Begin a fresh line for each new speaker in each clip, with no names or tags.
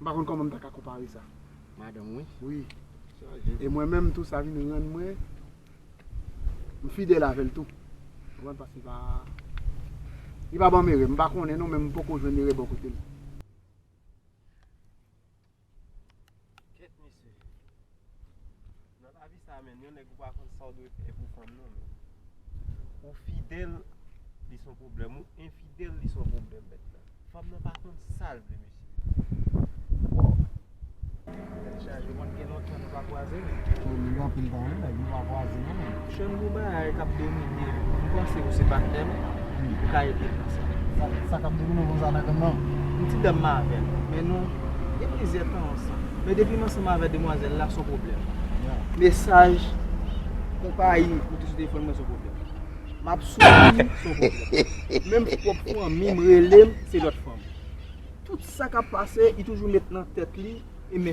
M pa konn kòman m ta ka konpare sa. Madanm wi.
Wi.
E mwen menm tou sa vin rann mwen m fidèl avè l tou. Ou konprann paske li pa li pa ban m erè. M pa konnen non men m poko jwenn erè bò kote l. Kèt
mesye. Nan lavi sa menn yon nèg ou pa konn sa ou dwe fè pou fanm nan menn. Ou fidèl li son pwoblèm, ou enfidèl li son pwoblèm mèt la. Fanm nan pa konn sa l vle mesye. Tèt chaje mwen gen lontan nou pa kwaze. Ou li anpil tan
wi nèg nou pa kwaze non. Chen gwo bagay
kap domine yo. M panse ou se patnè m, ou ka ede m nan sa. Sa kap domine w konsa
nan granm nan? M ti dam m avè
l, men nou gen plizyè tan ansanm. Men depi m ansanm avè demwazèl la son pwoblèm. Mesaj, konpayi ou te sou telefòn mwen son pwoblèm. M ap soufri son pwoblèm. Menm pwòp fanmi m rele m se lòt fanm. Tout sa kap pase li toujou met nan tèt li e m.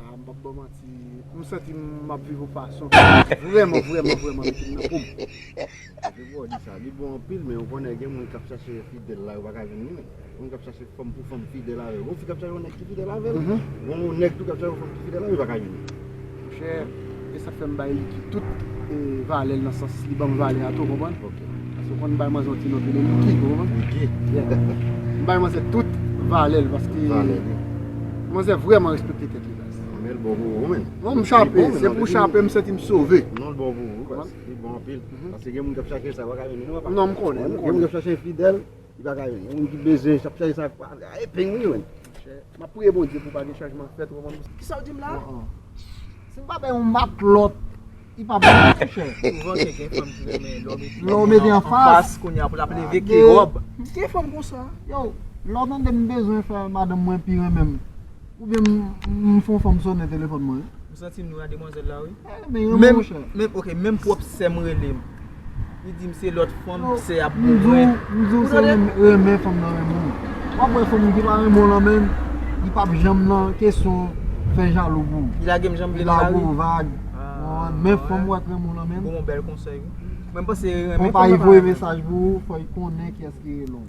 Ah m pap baw manti, m santi m map viv yon fason ki vrèman vrèman vrèman mete m nan poum.
Sa ki fè w di sa? Li bon anpil men ou konnen gen moun kap chache fidèl la yo paka jwenn li menm. Moun kap chache fanm pou fanm fidèl avèl. Gon fi kap chache yon nèg ki fidèl avèl, gon nèg tou kap chache yon fanm ki fidèl avèl li paka jwenn li. Chè
e sa fèm bay Liky tout valèl nan sans li banm valè a tou konprann paske fòn bay manzè yon ti non rele Liky ou konprann m bay manzè tout valèl paske manzè vrèman respekte tèt li guys
non m chape
se pou chape m santi m sove
non m konnen m
konnen
Li pa ka jwenn. Gen moun ki bezwen ap chache sa pa ka epeng wi menn. M ap priye
Bondye pou pa gen chanjman fèt ou konprann. Kisa w di m la?
Si m pa
bay yon matlòt li pa bon non monchè. Souvan se gen fanm
ki renmen lè w mete lè w mete
anfas kounye a pou l ap leve ki
wòb. Gen fanm konsa.
Yow lè w tande m bezwen fè madanm mwen pi renmen m. Ou byen m fon fom sonnen telefon mwen wi. M santim nou a demwazel
la wi. Men yon moun chè. Menm ok
menm pwop sèm
relem. Li dim se lot fanm sè ap bon mwen. M diw se
renmen fanm nan renmen w. Wap we fanm ki pa renmen w lan menm li pap janm nan kesyon fè jalou pou w. Li lagem janm vle l
la wi. Li
lagem vag. Men fanm wap renmen w lan menm. Bon bel konsey wi.
Mwen panse renmen fanm nan pa renmen w. Fanm pa yi voye mesaj
pou w fo yi konnen kiyes ki rele w.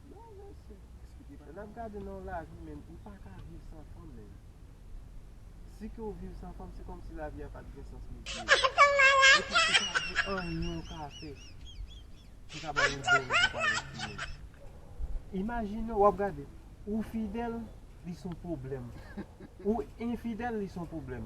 Non mesye lè nap
gade nan lavi menm ou paka viv san fanm menm si ke ou viv san fanm se kòmsi lavi a pat gen sans mesye e pi ou pa gen anyen ou ka fè ki ka bay yon bon rezilta nan lavi menm imajine wap gade ou fidèl li son pwoblèm ou enfidèl li son pwoblèm.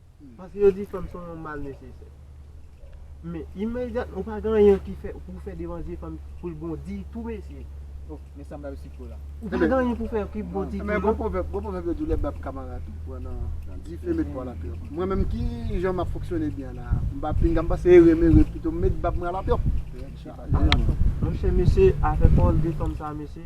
Paske yo di fanm son yon mal nesesè. Men imedyatman ou pa gen anyen ki fè pou fè devan zye fanm pou l bon ditou mesye. Oh men sa bab si cho la. Ou pa gen anyen pou fè ki bon ditou non. Men gon pwovèb, gon pwovèb
yo
di
lè bab kamarad ou pran nan dife met bwa lapè. Mwen menm ki jan map fonksyone byen la, m pa pinga m pase ere m ere pito m met bab mwen alapè.
Monchè mesye afè pawòl de fanm sa mesye.